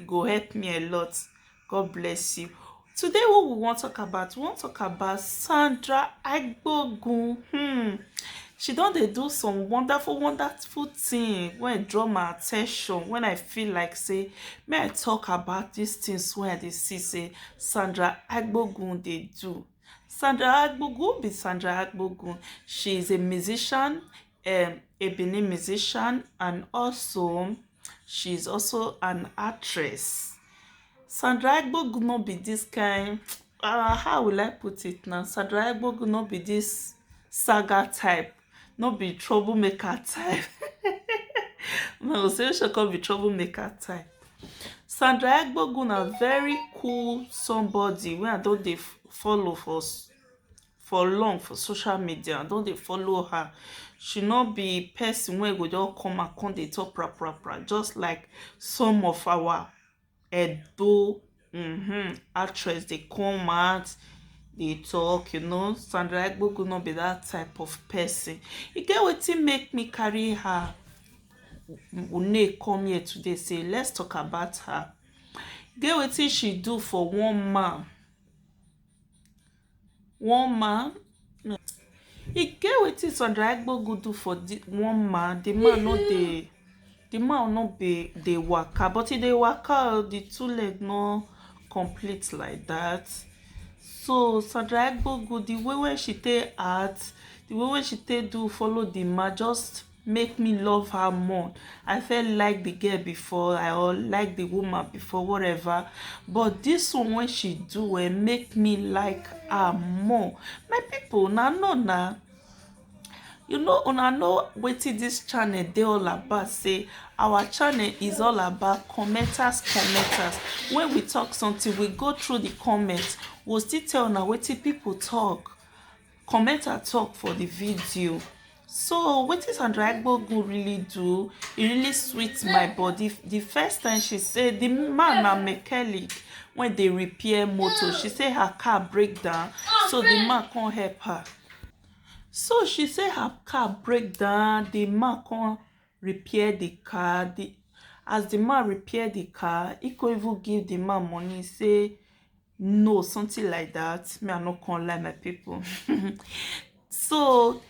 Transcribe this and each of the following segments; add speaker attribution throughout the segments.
Speaker 1: e go help me a lot God bless you today what we wan talk about we wan talk about Sandra Agbogun hmm. she don dey do some wonderful wonderful thing wey draw my attention when I feel like say may I talk about these things wey I dey see say Sandra Agbogun dey do Sandra Agbogun be Sandra Agbogun she is a musician um, a Benin musician and also She is also an actress. Sandra Egbogu no be this kind, uh, how will I put it now? Sandra Egbogu no be this saga type, no be troublemaker type. no, so she can be troublemaker type. Sandra Egbogu na very cool somebody wey I don dey follow for for long for social media i don dey follow her she no be person wey go just come and come dey talk pra pra pra just like some of our edo mm-hmm, actress dey come out dey talk you know sandra egbogu no be that type of person e get wetin make me carry her une come here today say let's talk about her get wetin she do for one man one man no e get wetin Sandra Egbogu do for the one man the man no dey the man no be dey waka but e dey waka o the two leg no complete like that so Sandra Egbogu the way wey she take act the way wey she take do follow the man just make me love her more i felt like the girl before i or like the woman before whatever but this one when she do eh make me like her more my people na no na you know una know wetin this channel dey all about say our channel is all about commenters commenters when we talk something we go through the comments we'll still tell una wetin people talk commenter talk for the video so wetin sandra egbogun really do e really sweet my body the first time she say the man na mechanic wey dey repair motor she say her car break down so the man come help her so she say her car break down the man come repair the car the as the man repair the car he come even give the man money say no something like that me i no come lie my people so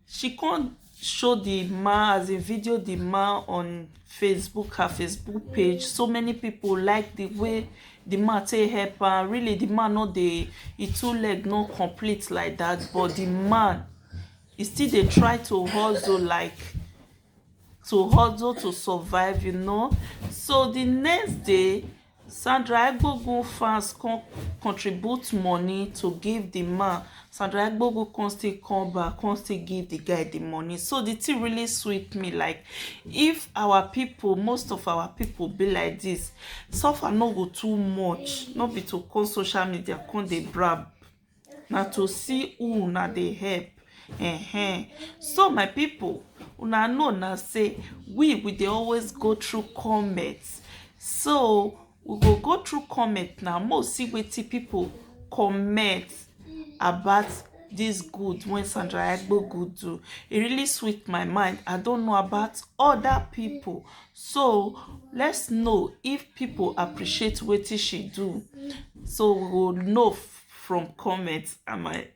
Speaker 1: she come show the man as a video the man on facebook her facebook page so many people like the way the man take help her really the man no dey e two leg no complete like that but the man e still dey try to hustle like to hustle to survive you know so the next day Sandra Egbogun fans come contribute money to give the man Sandra Egbogun come still come back come still give the guy the money so the thing really sweet me like if our people most of our people be like this suffer no go too much no be to come social media come dey brab na to see who una dey help um so my people una know na say we we dey always go through comment so we go go through comment now mo see wetin people comment about this good when Sandra Agbo good do. It really sweet my mind. I don't know about other people. So let's know if people appreciate what she do. So we will know from comments am i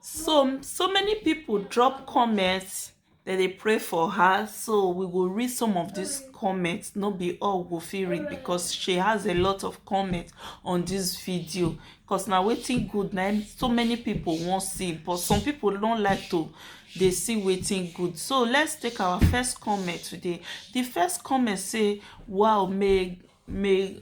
Speaker 1: so so many people drop comments that they pray for her so we will read some of these comments no be all go fit read because she has a lot of comments on this video because now waiting good na so many people won't see but some people don't like to They see waiting good so let's take our first comment today the first comment say wow may may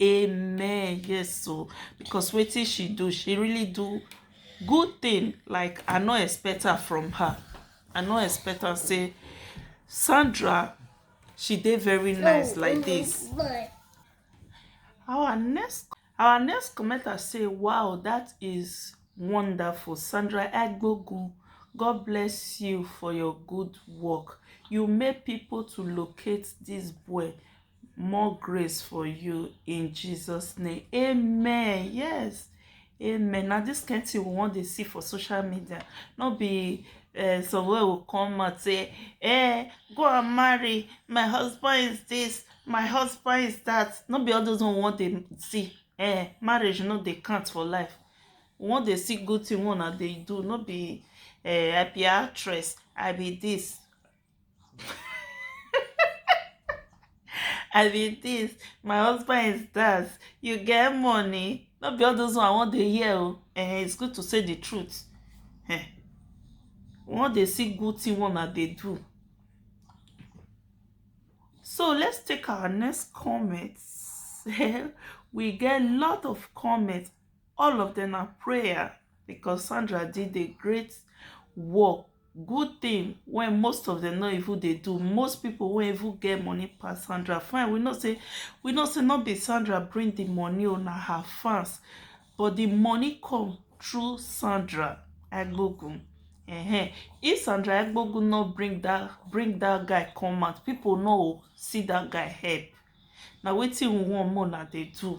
Speaker 1: amen yes so because wetin she do she really do good thing like i no expect her from her i no expect her say sandra she dey very nice like this our next our next commenter say wow that is wonderful sandra egbogun god bless you for your good work you make people to locate this boy more grace for you in jesus name amen yes amen Now this kind thing we wan dey see for social media no be uh, somewhere go come out say eh go and marry my husband is this my husband is that no be all those one we wan dey see eh marriage no dey count for life we wan dey see good thing wey una dey do no be eh i be actress i be this i be this my husband is that you get money no be all those one i wan dey hear o eh it's good to say the truth eh we wan dey see good thing wey una dey do so let's take our next comment we get lot of comments all of them are prayer because sandra did a great work good thing wey most of them no even dey do most people wey even get money pass sandra fine we know say we know say no be sandra bring the money o na her fans but the money come through sandra egbogun uh-huh. if sandra egbogun no bring that bring that guy come out people no see that guy help na wetin we wan more na dey do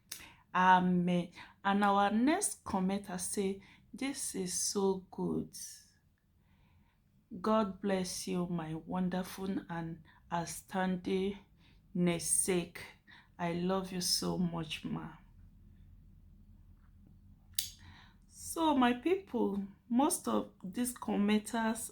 Speaker 1: Amen and our next commenter say this is so good God bless you my wonderful and outstanding namesake I love you so much ma so my people most of these commenters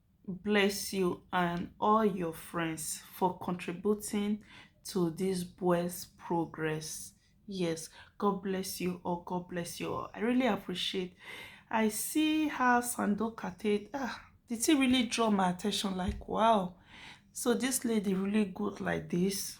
Speaker 1: bless you and all your friends for contributing to this boys progress yes god bless you all god bless you all i really appreciate i see how sandoka take ah the thing really draw my attention like wow so this lady really good like this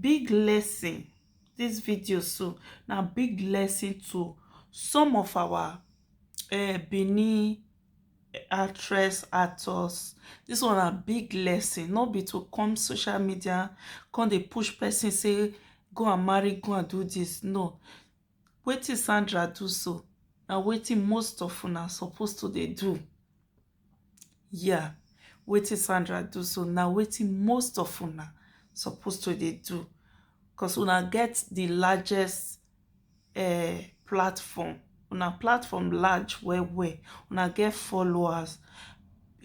Speaker 1: big lesson this video so na big lesson to some of our uh, Benin actress actors this one a big lesson no be to come social media come dey push person say go and marry go and do this no wetin Sandra do so na wetin most of una suppose to dey do Yeah, wetin Sandra do so na wetin most of una suppose to dey do cause una get the largest uh, platform. Una platform large well well. Una get followers.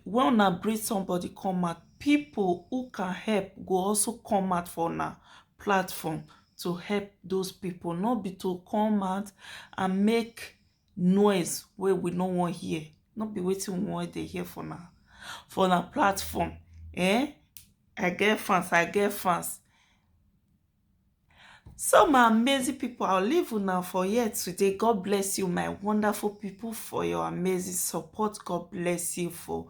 Speaker 1: When una bring somebody come out, people who can help go also come out for una platform to help those people. Not be to come out and make noise wey we no wan hear, no be wetin we wan dey hear for una for una platform um I get fans I get fans so my amazing people I will leave una for here today God bless you my wonderful people for your amazing support God bless you for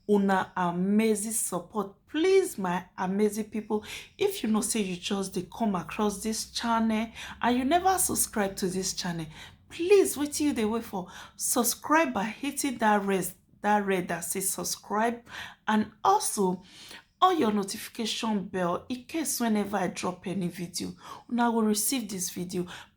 Speaker 1: una amazing support please my amazing people if you know say you just dey come across this channel and you never subscribe to this channel please wetin you dey wait for subscribe by hitting that red that red that says subscribe and also on your notification bell in case whenever i drop any video una will receive this video